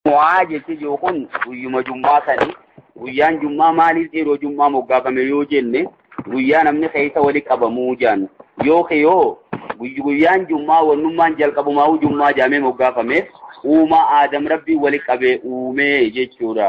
Jumu'aa jechi jiru kun guyyuma jummaa sani guyyaan jummaa maaliif yeroo jummaa moggaafame yoo jenne guyyaa namni keessa wali qabamuu jaan yookiin yoo guyyaan jummaa wannummaan jalqabumaa'uu jummaa jaamee moggaafameef uumaa aadam rabbii wali qabee uumee jechuudha.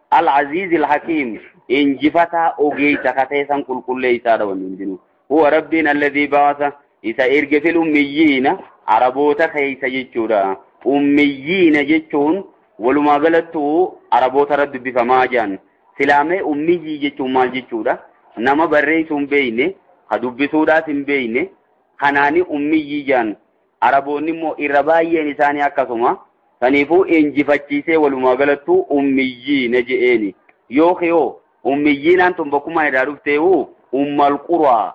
Al-Aziizi Al-Hakiim injifataa ogeeysa ka ta'e san qulqulleeysaadha wanni hundinuu. Huwa Rabbiin alladhii ba'asa isa erge fil ummiyyiina Araboota keeysa jechuudha. Ummiyyiina jechuun walumaa galattuu Araboota irra dubbifamaa jaan. Silaa mee ummiyyii jechuun maal jechuudha? Nama barreeysuu hin beeyne, ka dubbisuudhaas hin beeyne, kanaani ummiyyii jaan. Araboonni immoo irra baay'een isaanii akkasuma. Saniifuu injifachiisee walumaa galattuu ummiyyiina je'eeni. Yookiin hoo ummiyyiinaan tun bakkummaan irraa dhufteehu ummal quraa.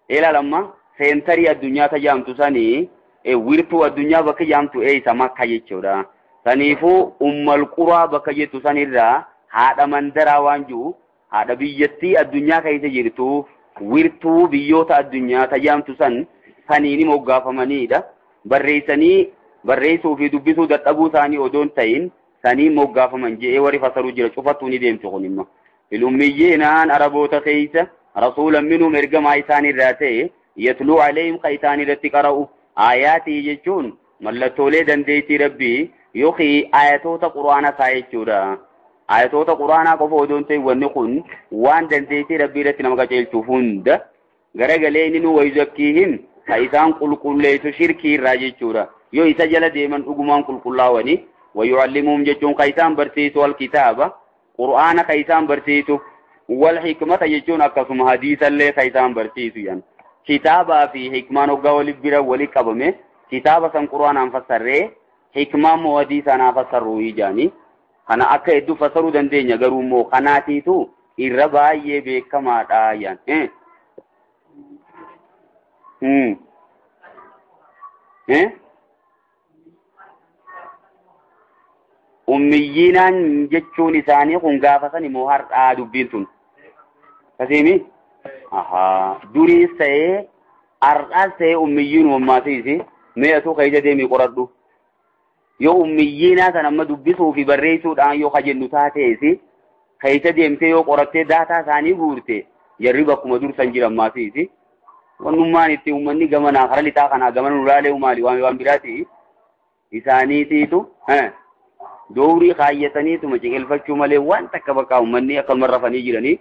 Ilaal amma seentarii addunyaa ta jaamtu sani wirtuu addunyaa bakki jaamtu eeysa makka jechuudha. Saniifuu ummal quraa bakka jettu sanirraa haadha mandaraa waan ji'u Haadha biyyattii addunyaa keessa jirtuuf wirtuu biyyoota addunyaa tajaamtu san saniini moggaafamaniidha. Barreessanii barreessuu fi dubbisuu dadhabuu isaanii odoo hin ta'in saniin moggaafaman je'ee warri fasaru jira cufattuu ni deemti kun immoo. Filummiyyinaan Araboota keessa rasuulan minhum ergamaa isaan irraa ta'e yatluu alayhim ka isaan irratti qara'u aayaatii jechuun Mallattoolee dandeettii Rabbii yookiin ayatoota Qur'aanaa isaa jechuudha. Ayatoota Qur'aanaa qofa odoo hin ta'in wanni kun waan dandeettii Rabbii irratti nama qajeelchu hunda garagalee inni nu wayuzakkiihim ka isaan qulqulleessu shirkii irraa jechuudha. Yoo isa jala deeman dhugumaan qulqullaawanii wayu'allimuhum jechuun ka isaan barsiisu alkitaaba Qur'aana ka isaan barsiisu. Wal hikmata jechuun akkasuma hadiisallee ka isaan barsiisu jedhan. Kitaabaa fi hikmaan hoggaa wali bira wali qabame kitaaba san qur'aanaan fassarree hikmaa immoo hadiisaan haa fassarru jedhanii. Kana akka hedduu fassaruu dandeenya garuu immoo kanaatiitu irra baay'ee beekamaadha jedhan. Eh? Eh? ummiyyiinaan jechuun isaanii kun gaafa sani moo har'aa dubbiin tun kasiimi ahaa duriis ta'ee har'aas ta'ee ummiyyiin uummaatiisi mee atuu keessa deemii qoradhu yoo ummiyyiinaa san amma dubbisuu fi barreessuudhaan yoo kajennu taateesi keessa deemtee yoo qorattee daataa isaanii guurte jarri bakkuma dursan jiran maatiisi wannummaan itti uummanni gamanaa kara lixaa kanaa gamana nu laalee umaali waan waan biraati isaaniitiitu doorii kaayyataniituma ciqilfachuu malee waan takka bakka uummanni akkanuma rafanii jiranii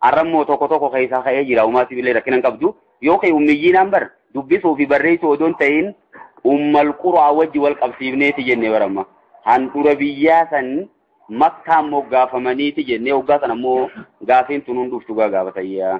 arrammoo tokko tokko keessaa ka'ee jira uumaati billee rakkina hin qabdu yookiin ummiyyiinaan bar dubbisuu fi barreessuu odoon ta'in ummal quraa wajji wal qabsiifneeti jenne baramma handhura biyyaa san makkaan moggaafamaniiti jennee hoggaa san ammoo gaafiin tun hunduftu gaa gaafatayyaa.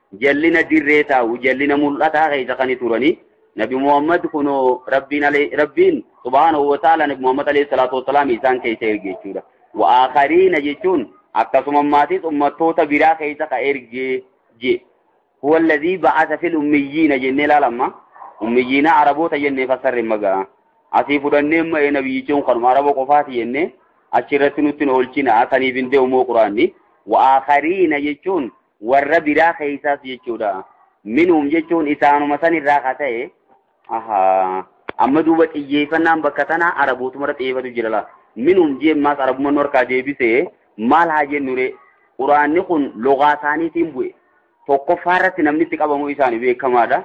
jallina dirree taa'u jallina mul'ataa keessa kan turanii nabi muhammad kunoo rabbiin alee rabbiin subhaanahu wa ta'ala nabi muhammad alayhi salaatu wassalaam isaan keessa erge jechuudha wa aakhariina jechuun akkasuma maatis ummattoota biraa keessa ka erge je huwa alladhii ba'asa fil ummiyyiina jennee laalamma ummiyyiina araboota jennee fassarre magaa asii fudhannee ma'ee nabiyyichuun kanuma araba qofaati jennee achirratti nutti hin oolchina saniif hin deemumoo quraanni wa aakhariina jechuun warra biraa keessaas jechuudha minhum jechuun isaanuma san irraa ka ta'e ahaa amma duuba xiyyeeffannaan bakka tanaa arabootumarra xiyyeeffatu jira laa minhum jeemmaas arabumman warkaa deebisee maal haa jennure quraanni kun logaa isaaniitiin bu'e tokkoffaa irratti namni itti qabamu isaanii beekamaadha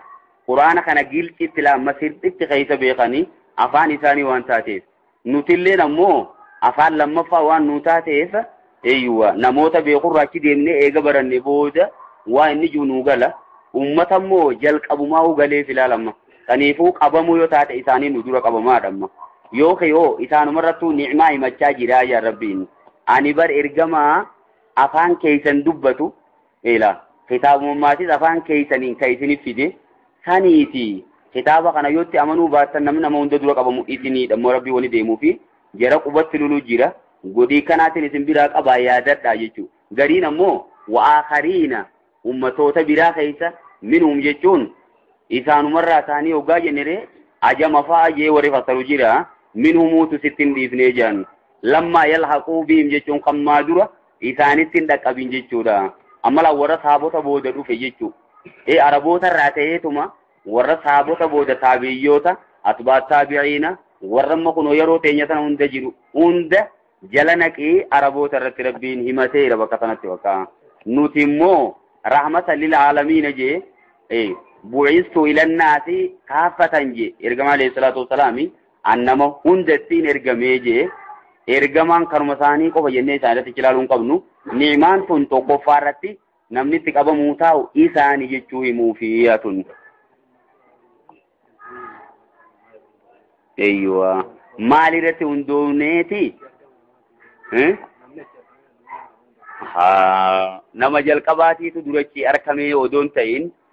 quraana kana gilcitti laamma sirxitti keessa beekanii afaan isaanii waan taateef Nutilleen ammoo afaan lammaffaa waan nuu taateef eeyyuwa namoota beekurraa achi deemnee eega baranne booda waa inni jiru nuu gala. Uummata immoo jalqabumaahuu galeef ilaala amma. Saniifuu qabamuu yoo taate isaanii nu dura qabamaadha amma. Yoo kee hoo isaanumarrattuu ni'maa himachaa jiraa yaa Rabbiin. Ani bar ergamaa afaan keessan dubbatu Ila kitaabummaatiis afaan keeysaniin ka isinif fide saniiti kitaaba kana yootti amanuu baattan namni nama hunda dura qabamu isiniidha immoo rabbii wani deemuufi jara qubatti lulu jira godhii kanaatiin isin biraa qabaa yaadadhaa jechuu gariin ammoo wa'aakariina ummatoota biraa keeysa minhum jechuun isaanumarraa taanii hoggaa jennere ajama fa'a jee warri fassaru jira minhumuutu sittin dhiifnee jedhan lammaa yalhaquu biim jechuun kammaa dura isaanitti hin dhaqqabin jechuudha. Amala warra saabota booda dhufe jechuudha. Ee Araboota irraa ta'eetuma warra saabota booda taabi'iyyoota, atbaat taabi'iina, warra amma kunoo yeroo teenya sana hunda jiru hunda jala naqee Araboota irratti rabbiin himateera bakka sanatti bakka. Nuti immoo rahmata lil aalamiina jee ee bu'istu ilannaasi kaaffatan jee ergamaa alayhi salaatu wasalaami An nama hundattiin ergamee jee ergamaan kanuma isaanii qofa jennee isaan irratti cilaaluu hin qabnu. Ni'maan tun tokkoffaa irratti namni itti qabamuu taa'u isaanii jechuu himuufi tun. Eeyyuwa. Maal irratti hundoofneeti? Nama jalqabaatiitu durachi arkamee odoon ta'in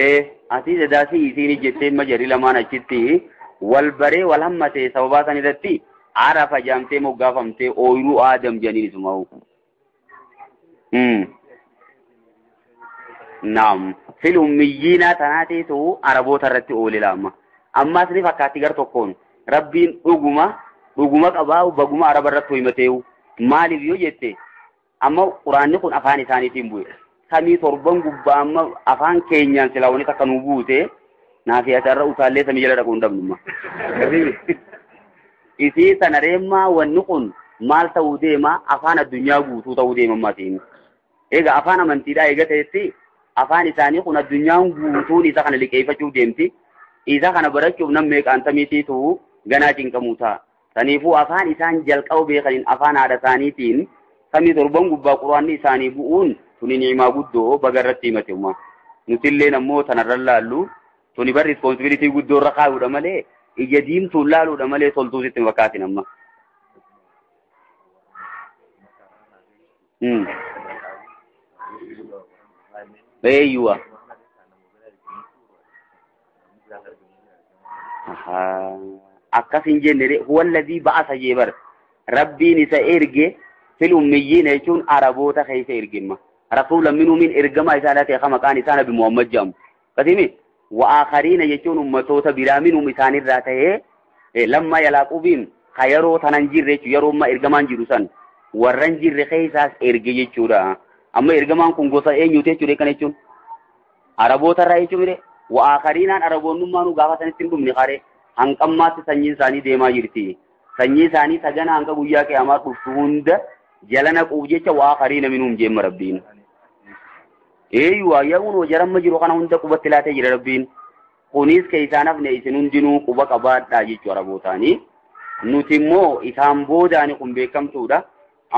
ee atii dadaa si isiin ijjettee ma jarii lamaan achitti wal baree wal hammatee sababaa san irratti arafa jaamtee moggaafamtee ooyiruu aadam janiin isumaa'u. Naam fil ummiyyiinaa tanaa teetu araboota irratti oole laama. Ammaas ni fakkaatti gar tokkoon rabbiin dhuguma dhuguma qabaa baguma araba irratti hoimateewu maaliif yoo jette Amma quraanni kun afaan isaaniitiin bu'e. Samii torban gubbaa amma afaan keenyaan silaa wanni takka nuu buute naafi asharra utaallee samii jala dhaquu hin dhabnumma. Isii tana reemmaa wanni kun maal ta'uu deema afaan addunyaa guutuu ta'uu deema maatiin. Egaa afaan amantiidhaa eega ta'etti afaan isaanii kun addunyaan guutuun isa kana liqeeffachuuf deemti. Isa kana barachuuf nam meeqaan samiitiitu ganaa cinqamuu ta'a. Saniifuu afaan isaan jalqaba beekaniin afaan haadha isaaniitiin samii torban gubbaa quraanni isaanii bu'uun tuni ni'imaa guddoo baga irratti himate umaa. Nutilleen ammoo tanarran laallu tuni bar responsibility guddoo irra kaayuudha malee ija diimtuun laaluudha malee toltuu sitti hin fakkaatin amma. Mm. Eeyyuwa. akkas hin jenne huwa alladhii ba'asa jee bar rabbiin isa erge fil ummiyyiina jechuun araboota keessa ergimma rasuula minuumin ergamaa isaa irraa ta'e maqaan isaa nabi muhammad jedhamu akkasimi wa'aakariina jechuun ummatoota biraa minuum isaanirraa ta'ee lamma yalaaqubiin ka yeroo tanan jirre jechuun yeroo amma ergamaan jiru san warran jirre keessaas erge jechuudha amma ergamaan kun gosa eenyuuti jechuudha kan jechuun Araboota irraa hin cumire, wa'aakariinaan Araboonnummaa nu gaafatanitti hin dhumne kare, hanqammaatti sanyiin isaanii deemaa jirti. Sanyii isaanii tagana hanga guyyaa qiyaamaa dhuftu hunda jala naquuf jecha wa'aakariina minhum jeemma Rabbiin. Eeyyu waayyaawwan wajaramma jiru kana hunda qubatti laatee jira Rabbiin. Kunis keessaan hafne isin hundinuu quba qabaadhaa jechuu Arabootaanii. Nuti immoo isaan boodaani kun beekamtuudha.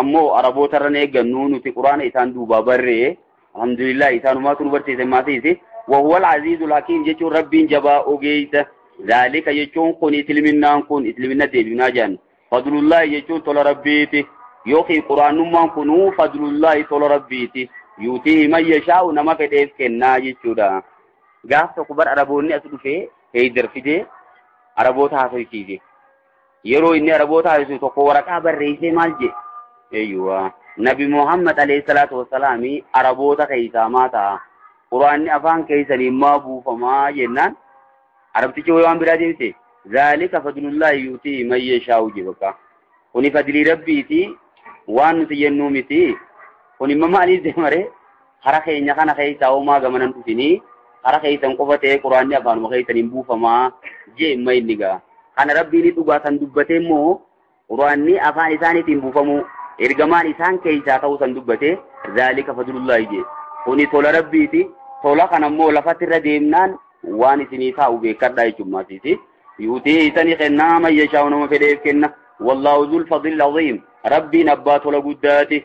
Ammoo Araboota irra hin eeggannu nuti Quraana isaan duubaa barree alhamdulillah isaanumaatu nu barsiise maasiisi wahuwal aziizul hakiim jechuun rabbiin jabaa ogeeysa zaalika jechuun kun isliminaan kun islimina deebinaa jedhan fadlullaahi jechuun tola rabbiiti yookiin quraanummaan kunuu fadlullaahi tola rabbiiti yuutii man yashaa'u nama fedheef kennaa jechuudha. Gaaf tokko bar Araboonni as dhufee heeydar fidee Araboota haasofsiise. yeroo inni araboota haasisu tokko waraqaa barreessee maal jee eeyyuwa nabi muhammad alayhi salaatu wassalaami araboota keessaa maa ta'a quraanni afaan keessanii maa buufamaa jennaan arabtichi wayii waan biraa deebise zaalika fadlullaahi yuutii man yashaa'u jee bakka kuni fadlii rabbiiti waan nuti jennuu miti kuni mama aliif deemaree Hara keenya kana keessa homaa gamana hin dhufinii hara keessan qofa ta'ee quraanni afaanuma keessan hin buufamaa jee imma inni gaa. Kana rabbiin dhugaa san dubbatee immoo quraanni afaan isaaniitiin buufamuu ergamaan isaan keessaa ta'uu san dubbatee zaalika fadlullaahi jee. Kuni tola rabbiiti tola kana immoo lafatti irra deemnaan waan isinii taa'u beekadhaa jechuummaatiiti. Yuutii isanii kennaa mayyashaa'u nama fedheef kenna. Wallaahu zul fadlil aziim. Rabbiin abbaa tola guddaati.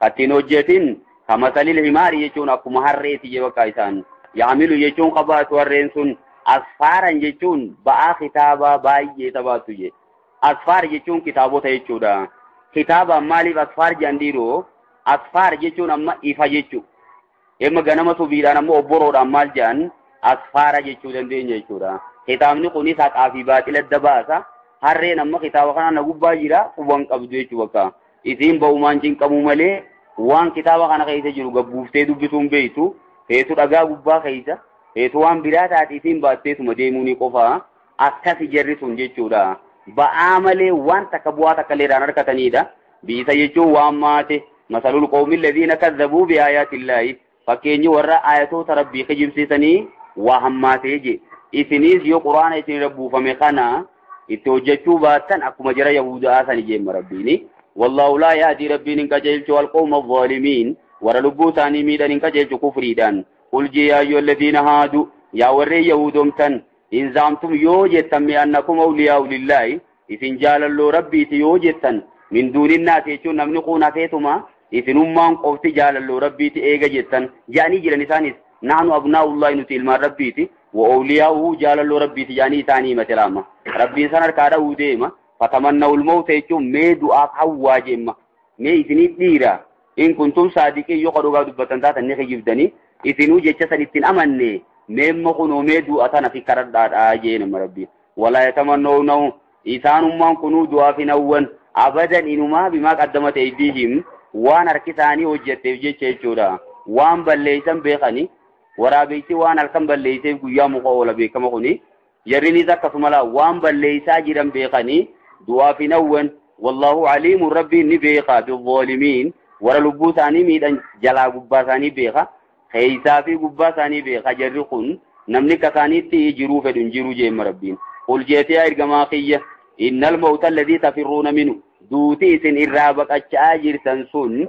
Kattiin hojjetin ka masalil himaari jechuun akkuma harreeti je bakka isaan yaamilu jechuun ka baatu harreen sun asfaaran jechuun ba'aa kitaabaa baay'ee ta baattu je asfaar jechuun kitaabota jechuudha kitaabaan maaliif asfaar jedhan dhiiroo asfaar jechuun amma ifa jechuu Emma ganama subiidhaan ammoo obboroodhaan maal jedhan asfaara jechuu dandeenya jechuudha. Kitaabni kunis haqaa fi baaxila adda baasa. Harreen amma kitaaba kanaa na gubbaa jira quban qabdu jechuu bakka. Isiin ba'umaan cinqamuu malee waan kitaaba kana keessa jiru gabbuuftee dubbisuun beektu feetu dhagaa gubbaa keessa feetu waan biraa taate isiin baatteetuma deemuunii qofaa. Akkasi jarri sun jechuudha. Ba'aa malee waan takka bu'aa takka illee irraan harkataniidha. Bi'isa jechuun waan maate. Masalul qawmi alladhiina kazzabuu bi aayaatillaahi. Fakkeenyi warra aayatoota rabbii kijibsiisanii waa hammaatee je. Isiniis yoo quraana isinirra buufame kana itti hojjechuu baattan akkuma jara Yahuuda'aa sani jeemma rabbiini. Wallaahu laa yahdii rabbiin hin qajeelchu alqawma alzaalimiin. Warra lubbuu isaanii miidhan hin qajeelchu kufriidhaan. Qul jee yaa ayyuhalladhiina haadu. Yaa warreen Yahuudomtan. In za'amtum yoo jettan mee annakum awliyaa'u lillaahi isin jaalalloo Rabbiiti yoo jettan min duuninnaasi jechuun namni kuun hafeetuma isinummaan qofti jaalalloo Rabbiiti eega jettan ja'anii jiran isaanis nahnu abnaa'ullaahi nuti ilmaan Rabbiiti wa awliyaa'uhu jaalalloo Rabbiiti ja'anii isaanii himate laamma Rabbiin san harkaa dha'uu deema fatamannawul mawta jechuun mee du'aaf hawwaa jeemma mee isiniif dhiira in kuntum saadiqiin yoo ka dhugaa dubbattan taatan ni kijibdani isinuu jecha san ittin amanne meemma kunoo mee du'a tana fi karadhaadha jeen amma rabbiin walaa yatamannawnahu isaanummaan kunuu du'aaf hin hawwan abadan inumaa bimaa qaddamat eydiihim waan harki isaanii hojjetteef jecha jechuudha waan balleeysan beekani waraabeysi waan halkan balleeyseef guyyaa muka oola beekama kuni Jarrinis akkasumala waan balleeysaa jiran beekanii du'aaf hin hawwan. Wallaahu aliimun Rabbiin ni beeka bizzaalimiin warra lubbuu isaanii miidhan jalaa gubbaa isaanii beeka. Keeysaa fi gubbaa isaanii beeka jarri kun namni akka isaaniitti jiruu fedhu hin jiru jeemma Rabbiin. Qul jeetee yaa ergamaa kiyya innal mawta alladhii tafirruuna minu duuti isin irraa baqacha'aa jirtan sun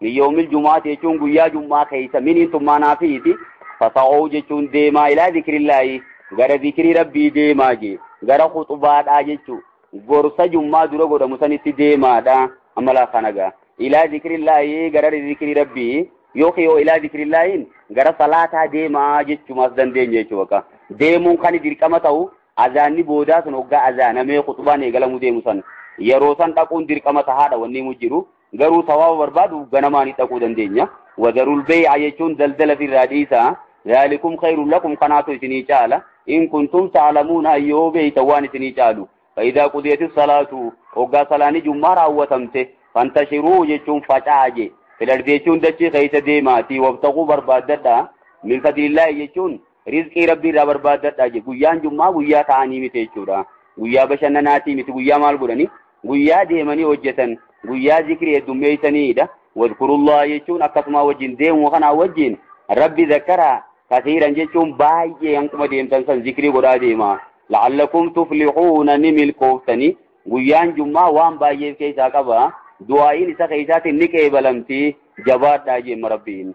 min yoomil jumaati jechuun guyyaa jummaa keessa miniin tummaa naafiiti fasa'oo jechuun deemaa ilaa zikrillaahi gara zikrii rabbii deemaa jee gara khuxubaadhaa jechuu gorsa jummaa dura godhamu sanitti deemaadha amalaa kanagaa ilaa zikrillaahi gara zikrii rabbii yookiin yoo ilaa zikrillaahiin gara salaataa deemaa jechumaas dandeenya jechuu bakka deemuun kan dirqama ta'u azaanni boodaa sun hoggaa azaanamee khuxubaan eegalamuu deemu san yeroo san dhaquun dirqama tahaadha wanni himu jiru Garuu sawaaba barbaadu ganamaani dhaquu dandeenya. Wadarul bee'a jechuun daldala firraa dhiisaa. Zaalikum khayrun lakum kanaatu isinii caala. In kuntum ta'lamuuna yoo beeytan waan isinii caalu. Fa'idaa qudiyati salaatu hoggaa salaani jummaa raawwatamte fantashiruu jechuun faca'aa je. Filardi jechuun dachii keessa deemaatii wabtaquu barbaaddadha. Min fadlillaahi jechuun rizqii rabbii irraa barbaaddadha je. Guyyaan jummaa guyyaa ta'anii miti jechuudha. Guyyaa bashannanaatii miti guyyaa maal godhanii? guyyaa deemanii hojjetan guyyaa zikrii heddummeeysaniidha wadkurullaha jechuun akkasumaa wajjin deemuma kanaa wajjin rabbi zakkaraa kasiiran jechuun baay'ee hanquma deemtan san zikrii godhaa deema la'allakum tuflixuuna ni milkooftanii guyyaan jummaa waan baay'eef keessaa qaba du'aa'iin isa keessaatiin ni qeebalamti jabaadhaa jeemma rabbiin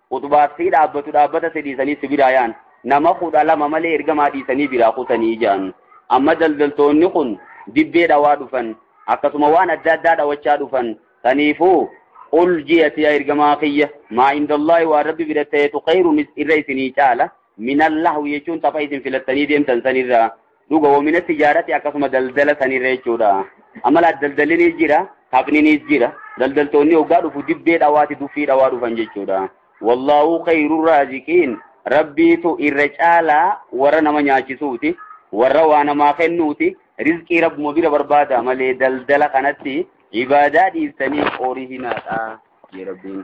Khuxbaaf sii dhaabbatu dhaabbata si dhiisanii si biraa yaa'an. Nama kudha lama malee ergamaa dhiisanii biraa kutanii ja'an. Amma daldaltoonni kun dibbee dhawaa dhufan. Akkasuma waan adda addaa dhawachaa dhufan. Saniifuu qul ji'ati yaa ergamaa kiyya maa indallaahi waan rabbi bira ta'etu khayrunis irra isinii caala minallahwi jechuun tapha isin filattanii deemtan sanirraa. Dhuga womina tijaarati akkasuma daldala sanirra jechuudha. Amma laa daldallinis jira, taphninis jira. Daldaltoonni hoggaa dhufu dibbee dhawaati duffii dhawaa dhufan jechuudha. Wallaahu khayru raaziqiin rabbiitu irra caalaa warra nama nyaachisuuti, warra waa namaa kennuuti, rizqii rabbuma bira barbaada malee daldala kanatti ibaadaa dhiistanii horii hinaadha jee rabbiin.